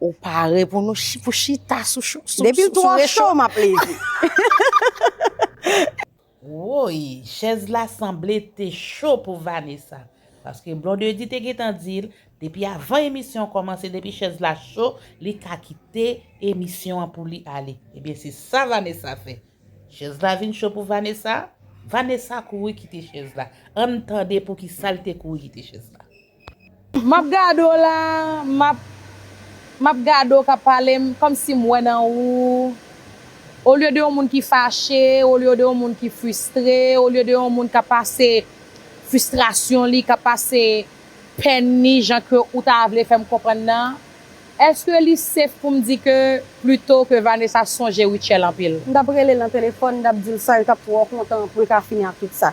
Ou pare pou nou pou chita sou sou sou Depi l twò cho m ap leve. Woyy chèz la sanble te cho pou Vanessa paske Blondedy te gentan di l depi avan emisyon an kòmanse depi chèz la cho li ka kite emisyon an pou li ale ebyen se sa Vanessa fè chèz la vin cho pou Vanessa Vanessa kouri kite chèz la ann tande poukisa l te kouri kite chèz la. Map gade w la map Map gade w kap pale m kòmsi m wè nan ou olye de yon moun ki fache olye de yon moun ki fristre olye de yon moun kap pase fristrasyon li kap pase pèn li jan ke ou ta vle fè m konprann nan èske li sef pou m di ke plito ke Vanessa sonje Rutshelle anpil. M tap rele l nan telefòn m tap di l sa yo tap twò kontan pou l ka fini ak tout sa.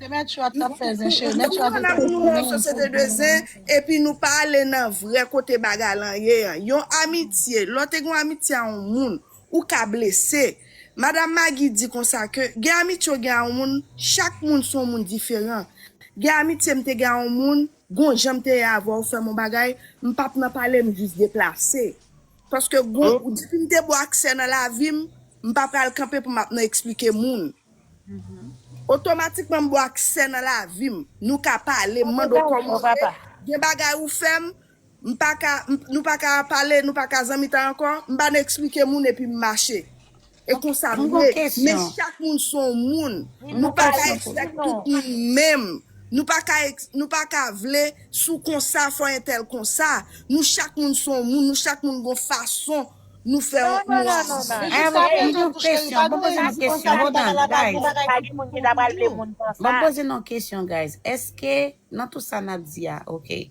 Se mèt yo ap tap fè zen cheri mèt yo ap ete pou nou nan sosyete de zen epi nou pa ale nan vrè kote bagay lan ye an yon amitye lè w te gen yon amitye a yon moun ou ka blese madam Maggie di konsa ke gen amitye w gen a yon moun chak moun se yon moun diferan gen amitye m te gen a yon moun gon jan m te ye avè w fè m yon bagay m pap nan pale m jis deplase. Paske bon, depi m te bon aksè nan lavi m, m pa pral kanpe pou m ap nan eksplike moun. Otomatikman m bon aksè nan lavi m. Nou ka pale, m mande w kòman w ye, gen bagay ou fè m, m pa ka, nou pa ka pale, nou pa ka zanmitan ankò, m pa nan eksplike moun epi m mache. E konsa m ye, men chak moun se yon moun, nou pa ka ekzak tout moun menm, nou pa ka vle si w konsa fò entèl konsa, nou chak moun se yon moun, nou chak moun gen yon fason nou fè yon moun aji.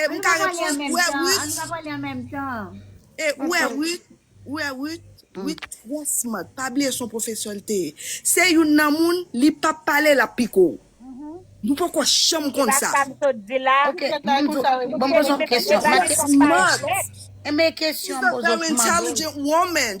E m ka repons ou e Ruth. E ou e Ruth, ou e Ruth, Ruth trè smart, pa bliye son pwofesè l te ye. Se youn nan moun li pa pale l ap piko w. Nou poko janm konn sa. Ok, bon m poze yon kesyon. Trè smart. She's a very intelligent woman.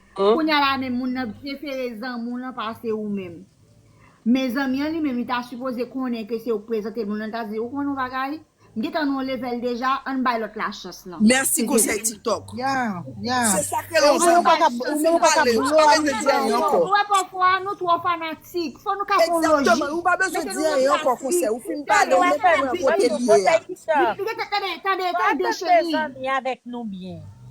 Kounya la men moun nan prefere zanmiw lan pase ou menm. Men zanmi an li menm li ta sipoze konnen ke se ou k prezantel moun lan li ta di ou konnen yon bagay m gentan nan yon level deja ann bay lòt la chans lan. Merci konsèy tiktok. Se sak rele yon zanmi. Ou menm ou paka blow a moun sa ankò. Ou wè pafwa nou twò fanatik. Fò nou ka fon lojik. Exactement, ou pa bezwen di anyen ankò konsèy. Ou fin pale ou menm pran kote l ye a. Tande, tande, tande cheri.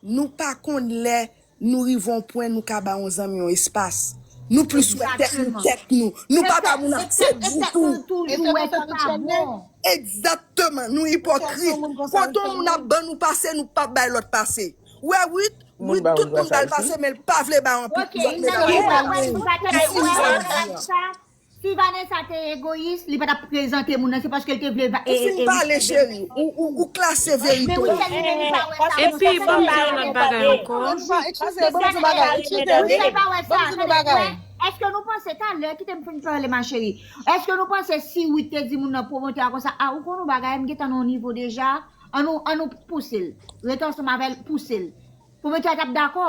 Nou pa konn lè nou rive yon pwen nou ka ba yon zanmi yon espas. Nou plis wè tèt nou tèt nou. Nou pa ba moun afè ditou. E se konsa tout sa bon. Egzakteman, nou ipokrit. Kote yon moun ap ban nou pase, nou pap bay lòt pase. Wè Ruth, Ruth tout moun ba l pase men l pa vle bay anpil lòt medam yo. Wè Ruth, Ruth pa bay moun pase. Si Vanessa te egoyis li pa tap prezante moun nan se paske li te vle Ou fin pale cheri, ou klase verite w. Epi banm di yon lòt bagay ankò. Eskize banm di yon bagay Michel pa wè sa tande ou wè Eske nou panse talè kite m fin pale ma cheri Eske nou panse si Ruth te di moun nan pwomotè a konsa a ou konn yon bagay m gentan nan yon nivo deja an nou pouse l rete ansanm avè l pouse l pwomotè a tap dakò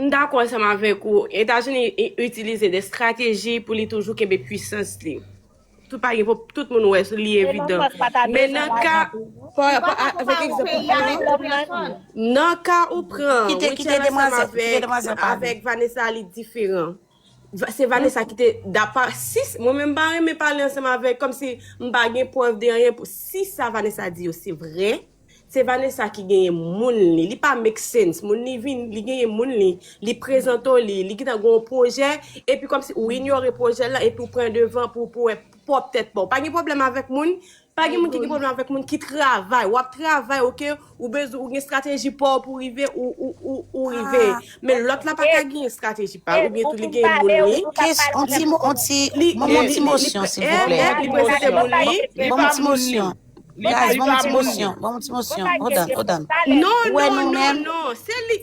M dakò ansanm avèk ou, Etazini itilize de strateji pou li toujou kenbe pwisans li. Tout pa gen pou tout moun wè, li evidan. Men nan ka pa rapò avèk egzanp ou pran, nan ka ou pran Rutshelle ansanm avèk Vanessa li diferan. Se Vanessa ki te dapa si mwen menm pa renmen pale ansanm avèk kòm si m pa gen prèv de anyen pou si sa Vanessa di yo se vrè se Vanessa ki genyen moun li li pa make sense moun li vin li genyen moun li li prezante w li li gentan gen yon pwojè epi kòm si ou inyore pwojè l lan epi ou pran devan pou pou wè pwòp tèt pa w pa gen pwoblèm avèk moun Pa gen moun ki gen pwoblèm avèk moun ki travay. Wap travay ok, ou bezwen ou gen strateji paw pou rive ou rive. Men lòt la pa ka gen strateji pal ou byen tou li gen moun li. Kes on ti mo on ti banm on ti mosyon silvouplè. Li prezante moun li, li pa moun li. Guys banm on ti mosyon, banm on ti mosyon. Hold on, hold on. Non non non non, se li.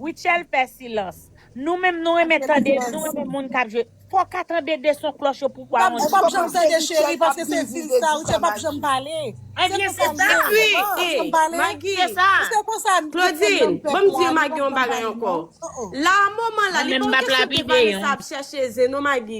Rutshelle fè silans. Nou menm nou renmen tande, nou renmen moun kap jwe. Fò w ka tande 2 son klòch yo pou w wè yon jan. Ou panse Rutshelle pa ap vin vide di sa Maggie? Ebyen se sa ui! Ee Maggie, se sa! Claudine, ban m di Maggie yon bagay ankò. La moman la, li pa yon kesyon ke Vanessa ap chèche zen non Maggie.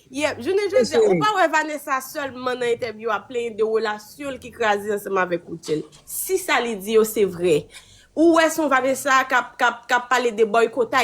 Yep, jounen jodi a, ou pa wè Vanessa sèlman nan entèvyou a plenyen de relasyon l ki kraze ansanm avèk Rutshelle. Si sa li di yo se vrè, ou wè son Vanessa k ap pale de boycott a